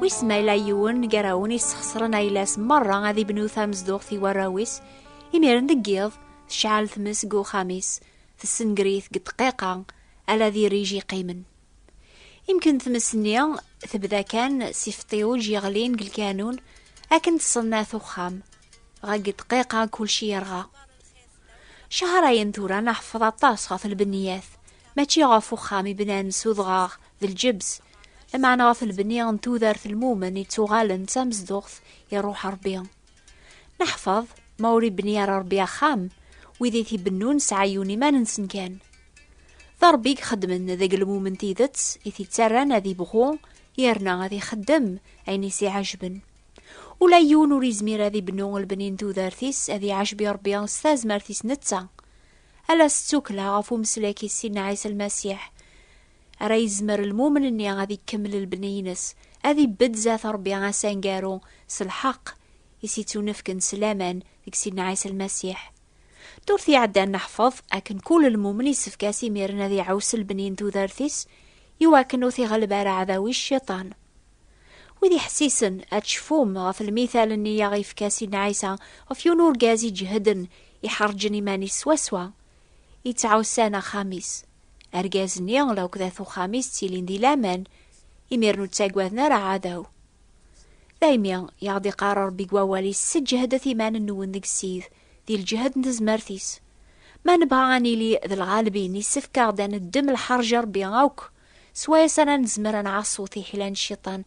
Wis ma yella yiwen gar-awen yessexṣren ayla-s merra ad ibnu tamezduɣt i warraw-is, imiren deg yiḍ tecɛel tmes deg uxxam-is, tessenger-it deg ddqiqa, ala d irij yeqqimen. Imken tmes-nni tebda kan s ifeṭṭiwj yeɣlin deg lkanun akken tṣennat uxxam, dɣa deg ddqiqa kulci yerɣa. Cahṛayen tura neḥfeḍ aṭas ɣef lbeniyat, mačči ɣef uxxam i bnan s udɣaɣ d lǧebs lameɛna ɣef lbenni n tudert lmumen yettuɣalen d tamezduɣt iruḥ rebbi neḥfeḍ ma ur ibni ara rebbi axxam wid i t-ibennun sɛayyun iman-nsen kan d rebbi i ixeddmen deg lmumen tidet i t-ittarran ad ibɣu yerna ad ixeddem ayen i s-iɛejben ula yiwen ur izmir ad ibnu lbenni n tudert-is ad iɛejbi rebbi s tazmert-is netta ala s ttukla ɣef umeslak-is sidna ɛisa lmasiḥ ara yezmer lmumen-nni ad ikemmel lbni-ines, ad ibedd zat Rebbi asangaru s lḥeqq i s-ittunefken s laman deg Sidna Ɛisa Lmasiḥ. Ddurt iɛeddan neḥfeḍ akken kul lmumen yessefk-as imiren ad iɛuss lbni n tudert-is i wakken ur t-iɣelleb ara aɛdaw-is Cciṭan. Wid iḥessisen, ad tcefum ɣef lmithal-nni i aɣ-yefka Sidna Ɛisa ɣef yiwen urgaz iǧehden, iḥerǧen iman-is swaswa yettɛussan axxam-is. Argaz-nni laukdat uxxam-is ttilin di laman, imir ur ttagaden ara aɛdaw. Daymi i aɣ-d-iqqar Rebbi deg wawal-is, Seǧǧehdet iman-nwen deg Ssid, di lǧehd n tezmert-is. Ma nebɣa ad nili d lɣalbin, yessefk-aɣ-d ad neddem lḥerǧ Rebbi akk, s wayes ara nezmer ad nɛassu tiḥila n Cciṭan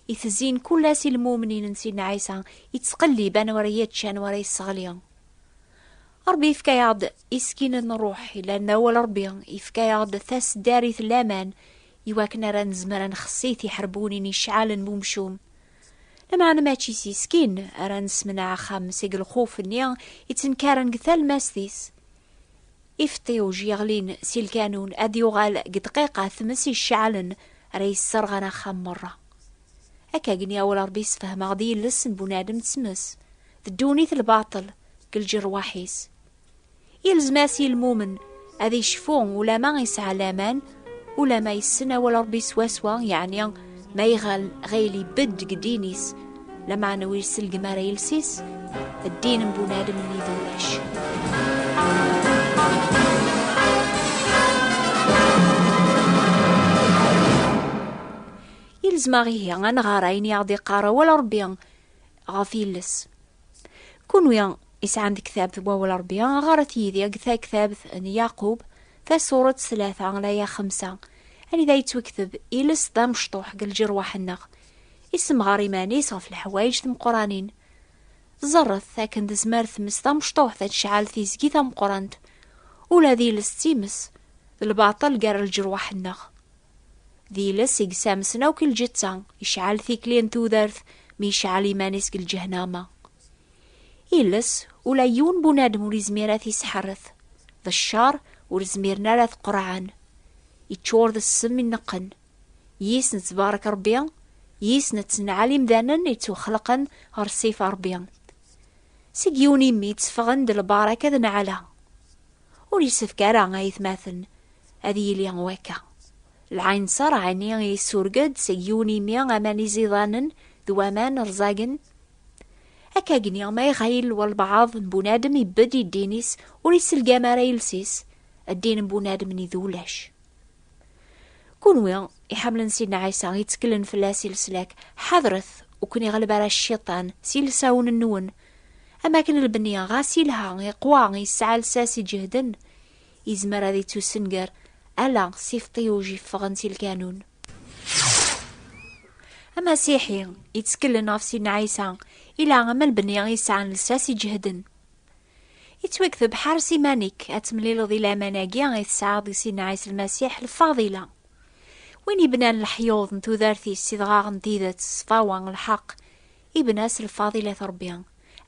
i tezzin kul ass i lmumnin n Sidna Ɛisa, yettqellib anwa ara yečč, anwa ara yesseɣli. Ṛebbi yefka-yaɣ-d iskin n ṛṛuḥ yellan, d awal Ṛebbi, yefka-yaɣ-d tasdarit n laman iwakken ara nezmer ad nxessi tiḥerbunin iceɛɛalen n umcum. Lameɛna mačči s yiskin ara nessemneɛ axxam seg lxuf-nni ittenkaren deg talmast-is. Ifeṭṭiwj yeɣlin si lkanun ad yuɣal deg ddqiqa tmes iceɛɛalen ara yesserɣen axxam meṛṛa. Akka gni awal Ṛebbi yessefhem-aɣ-d yiles n bunadem d tmes, d ddunit lbaṭel deg lǧerwaḥ-is. Yelzem-as i lmumen ad icfu ulama yesɛa laman, ulama yessen awal Ṛebbi swaswa, yeɛni ma iɣal ɣil ibedd deg ddin-is, lameɛna ur iselgem ara iles-is, ddin n bunadem nni d ulac. Yelzem-aɣ ihi ad nɣer ayen i aɣ-d-iqqar awal Ṛebbi, ɣef yiles. Kunwi isɛan tektabt n wawal Ṛebbi, ɣaṛet yid-i deg taktabt n Yaqub, tasuṛet tlata, laya xemsa, anida yettwekteb iles d amecṭuḥ deg lǧirwaḥ-nneɣ, issemɣaṛ iman-is ɣef leḥwayeǧ timeqqṛanin. Ẓerret akken tezmer tmes tamecṭuḥt ad tecɛel tizgi tameqqṛant, ula d iles d times, d lbaṭel gar lǧirwaḥ-nneɣ. D iles i yesamsen akk i lǧetta, iceɛɛel tikli n tudert mi iceɛɛel iman-is deg lǧehnama. Iles, ula yiwen n bunadem ur izmir ad t-isḥerret. D cceṛ ur zmiren ara ad t-qerɛen. Iččur d ssem ineqqen. Yis nettbaṛek Ṛebbi, yis nettenɛal imdanen i ttwaxelqen ɣer ṣṣifa Ṛebbi. Seg yiwen imi tteffɣen-d lbaṛaka d nnɛala. Ur yessefk ara, a aytmaten, Ad yili wakka. Lɛinṣer ɛni yessurg-d seg yiwen imi aman iẓidanen d waman rẓagen? Akka gni ma ixayil walbaɛḍ n bunadem ibedd i ddin-is ur iselgam ara iles-is, ddin n bunadem-nni d ulac. Kunwi iḥemmlen Sidna Ɛisa, itteklen fell-as i leslak, ḥadret ur ken-iɣleb ara cciṭan s yilsawen-nwen. Am wakken lbenni, ɣas yelha, iqwa, yesɛa lsas iǧehden, Yezmer ad yettussenger ala s ifeṭṭiwj yeffɣen si lkanun. Amasiḥi yettkellen ɣef Sidna Ɛisa ila am lbenni i yesɛan lsas iǧehden. Yettwakteb ḥares iman-ik ad temlileḍ i laman-agi i tesɛiḍ deg Sidna Ɛisa Lmasiḥ lfadila. Win yebnan leḥyuḍ n tudert-is s idɣaɣ n tidet, ṣṣfawa, lḥeqq, Ibnas lfaḍil at Ṛebbi,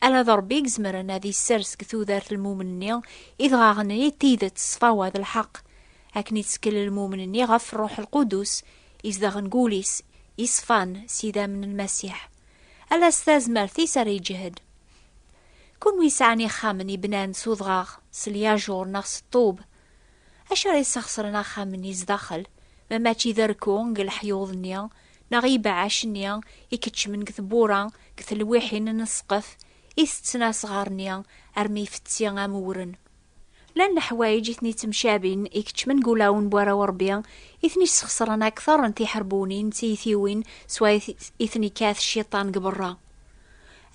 ala d Ṛebbi i izemren ad isers deg tudert lmumen-nni idɣaɣen-nni d tidet ṣṣfawa d lḥeqq, akken ittkel lmumen-nni ɣef Ṛṛuḥ Lqudus izedɣen deg wul-is yeṣfan s idammen n Lmasiḥ. Ala s tazmert-is ara iǧhed. Kunwi yesɛan ixxamen i bnan s udɣaɣ, s lyajuṛ neɣ s ṭṭub, Acu ara yesxesren axxam-nni zdaxel, ma mačči d rekku deg leḥyuḍ-nni neɣ ibeɛɛac-nni i keččmen deg tewwura deg telwiḥin n ssqef i tetten asɣar-nni armi ifetti am uwren? Llan leḥwayeǧ i ten-ittemcabin i keččmen deg ulawen n warraw n Rebbi i ten-isxesren akteṛ n tiḥerbunin d tiytiwin swayes i ten-ikkat cciṭan deg beṛṛa.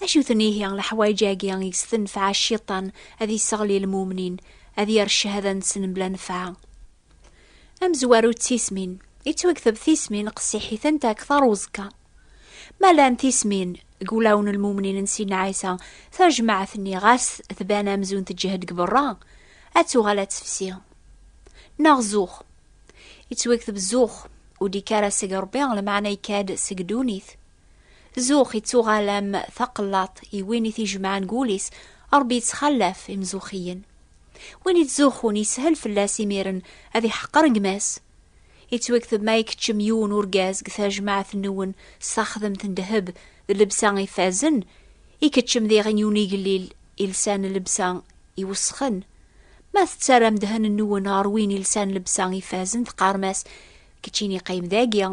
Acu-ten ihi leḥwayeǧ-agi i s-tenfeɛ Cciṭan ad isseɣli lmumnin, ad yerr cchada-nsen mebla nefɛa? Amezwaru d tismin, yettwakteb tismin qessiḥitent akteṛ uẓekka. Ma llant tismin deg wulawen n lmumnin n Sidna Ɛisa, tajmaɛt-nni ɣas tban amzun teǧhed deg beṛṛa, ad tuɣal ad tefsi. Neɣ zux. Yettwakteb zux, ur d-yekki ara seg Ṛebbi, lmeɛna yekka-d seg ddunit. Zux ittuɣal am taqellaṭ i win i t-ijemɛen deg wul-is, Ṛebbi ittxallaf imzuxxiyen. Win ittzuxxun yeshel fell-as imiren ad iḥeqer gma-s. Ittwekteb ma ikeččem yiwen urgaz deg tajmaɛt-nwen s taxdemt n ddheb d llebsa ifazen, ikeččem diɣen yiwen igellil ilsan llebsa iwesxen. Ma tettarram ddhen-nwen ɣer win ilsan llebsa ifazen teqqarem-as, Keččini qqim dagi,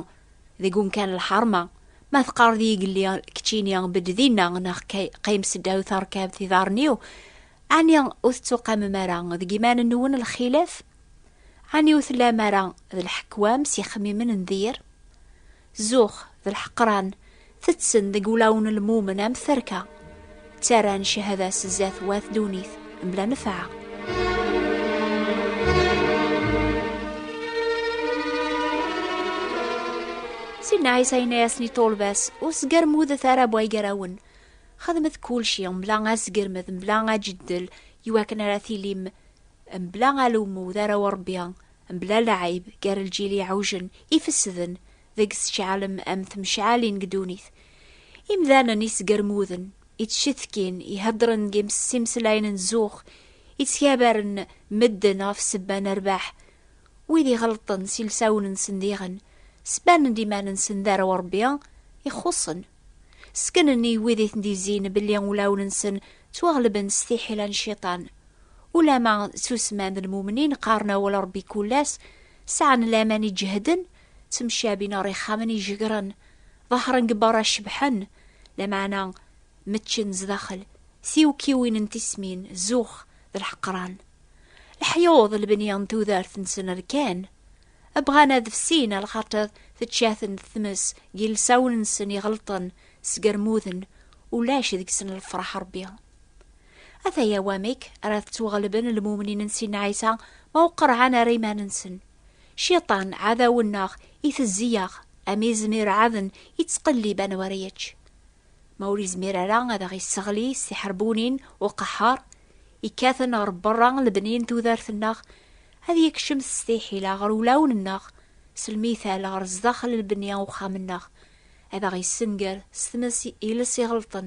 deg umkan lḥerma, ma teqqareḍ yigelli keččini bedd dinna neɣ qim seddaw terkabt iḍarren-iw, ɛni ur tettuqamem ara deg iman-nwen lxilaf? Ɛni ur tellam ara d lḥekwam s yixemmimen n dir? Zux, d lḥeqran, Tetsen deg ulaw n lmumen am terka, ttarran cehada s zdat wat dunit mebla nefɛa. Sidna Ɛisa yenna-yasen i ṭṭulba-s, ur sgermudet ara bu igarawen, xedmet kulci mebla asgermed mebla ajeddel iwakken ara tilim mebla alummu d arraw n Rebbi mebla lɛib gar lǧil iɛujen ifesden deg sečɛalem am temcɛalin deg ddunit. Imdanen isgermuden, ittcetkin, iheddren deg imsimeslayen n zzux, ittgabaren medden ɣef ssebba n rrbeḥ, wid iɣelṭen s ilsawen-nsen diɣen, sbanen-d iman-nsen d arraw n Rebbi ixuṣṣen. Ssknen i wid i ten-d-izzin belli ulawen-nsen ttwaɣelben s tiḥila n cciṭan. Ulama ttusemman d lmumnin, qqaren awal n Rebbi kul ass, sɛan laman iǧehden, ttemcabin ɣer ixxamen ijegren, ḍehren deg berra cebḥen, lameɛna meččen zdaxel, tiwekkiwin n tismin, zux d lḥeqran. Leḥyuḍ lebni n tudert-nsen rkan, bɣan ad fsin ar xaṭer tečča-ten tmes n yilsawen-nsen iɣelṭen, sgermuden, ulac deg-sen lefraḥ Rebbi. Ataya wamek ara tettwaɣelben lmumnin n Sin Ɛisa ma ur qerɛen ara iman-nsen. Ciṭan, ɛadaw-nneɣ, itezzi-yaɣ, am izem ireɛɛaden, ittqellib anwa ara yečč. Ma ur yezmir ara ad aɣ-isseɣli s tiḥerbunin, uqaḥar, ikkaten ɣer berra n lebni n tudert-nneɣ, ad yekcem s tiḥila ɣer ulawen-nneɣ, s lmital ɣer sdaxel n lebni n uxxam-nneɣ, ad aɣ-issenger s tmes iles iɣelṭen,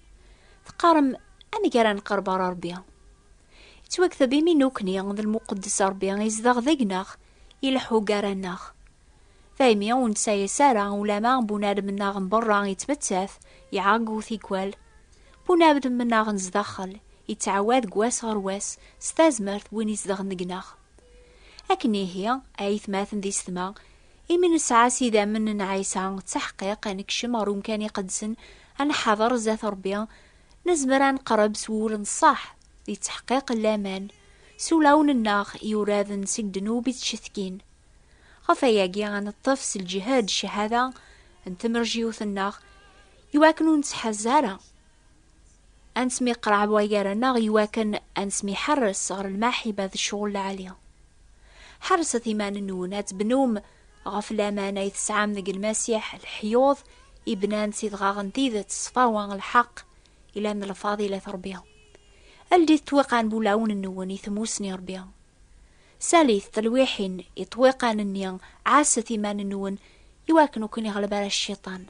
Teqqarem, Amek ara nqerb ar Ṛebbi? Yettwakteb imi nukni d lmuqeddes Ṛebbi izdeɣ deg-neɣ, ileḥḥu gar-aneɣ. Daymi ur neţayas ara ulama bunadem-nneɣ n beṛṛa yeţmettat, iɛeggu tikwal. Bunadem-nneɣ n zdaxel yeţɛawad deg wass ɣer wass s tazmert n win izedɣen deg-neɣ. Akken ihi, a aytmaten d isetma, Imi nesɛa s idammen n Ɛisa ttaḥqiq ad nekcem ɣer umkan iqedsen, ad nḥader zdat Rebbi, nezmer ad neqreb s wul n ṣṣeḥ, di ttaḥqiq n laman, s ulawen-nneɣ yuraden seg ddnub i ttcetkin. Ɣef wayagi ad neṭṭef s lǧehd cchada n tmerjiwt-nneɣ, iwakken ur nettḥaz ara. ad nesmiqraɛeb wa gar-aneɣ i wakken ad nesmiḥerres ɣer lmaḥiba d ccɣel lɛali. Ḥerrset iman-nwen ad tebnum ɣef laman ay tesɛam deg Lmasiḥ, leḥyuḍ ibnan s idɣaɣ n tidet, ṣṣfa wa lḥeqq, ilan d lfadilat Ṛebbi. Ldit ṭṭwiqan n wulawen-nwen i tmussni Ṛebbi. Salit telwiḥin i ṭṭwiqan-nni, ɛasset iman-nwen i wakken ur ken-iɣleb ara cciṭan.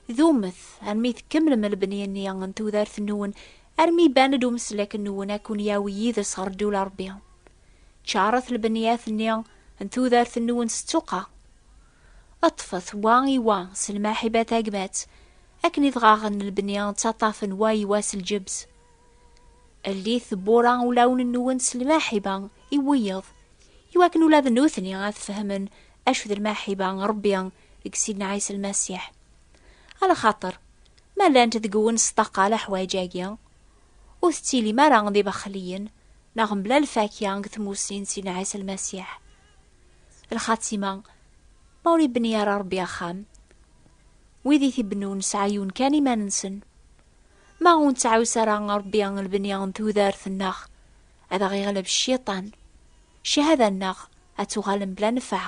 Dumet armi tkemmlem lebni-nni n tudert-nwen, armi iban-d umeslak-nwen ad ken-yawi yid-s ɣer ddula Rebbi. Ččaṛet lbeniyat-nni n tudert-nwen s ttuqqa. Ṭṭfet wa i wa s lmaḥiba tagmat, akken idɣaɣen lebni ttaṭṭafen wa i wa s lǧebz. Llit tewwura ulawen-nwen s lmaḥiba i wiyeḍ, iwakken ula d nutni ad fehmen acu d lmaḥiba n Rebbi deg Sidna Ɛisa Lmasiḥ. A lxaṭer, ma llant deg-wen sṭaqa leḥwayeǧ-agi, ur tettilim ara d ibexliyen neɣ mebla lfakya deg tmusni n Sidna Ɛisa Lmasiḥ. Lxatima, ma ur ibni ara Ṛebbi axxam, wid i t-ibennun sɛayyun kan iman-nsen. Ma ur nettɛus ara Ṛebbi lbni n tudert-nneɣ, ad aɣ-iɣleb Cciṭan, cchada-nneɣ ad tuɣal mebla nnfeɛ.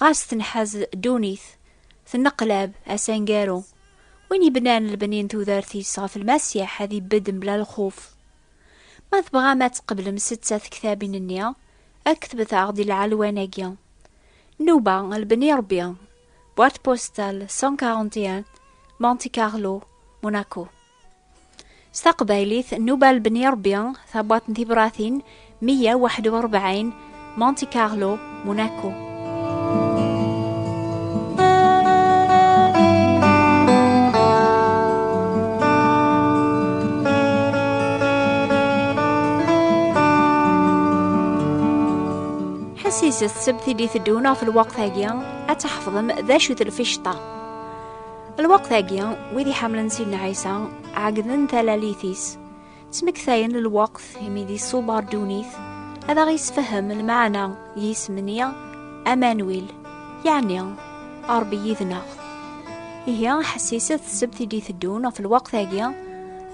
ɣas tenḥaz ddunit tenneqlab asangaru win yebnan lbeni n tudert-is ɣef lmasiḥ ad ibedd mebla lxuf ma tebɣam ad tqeblem setta tektabin-nni aktbet-aɣ di lɛalwan-agi nuba lbeni rebbi boîte postale 141 Monte Carlo Monaco S taqbaylit, Nuba Lebni Rebbi, tabwaṭ n tibratin, 141, Monte Carlo, Monaco. ḥessis s tsebt i d-iteddun ɣef lweqt-agi, ad tḥefḍem d acu-t lficṭa. lweqt-agi wid iḥemmlen sidna ɛisa ɛegden talalit-is ttmektayen lweqt imi di ṣubar dunit ad aɣ-isfehhem lmeɛna yisem-nni amanwil yeɛni aṛbi yid-neɣ ihi ḥessiset ssebt i d-iteddun ɣef lweqt-agi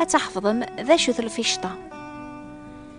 ad tḥefḍem d acu-t lficṭa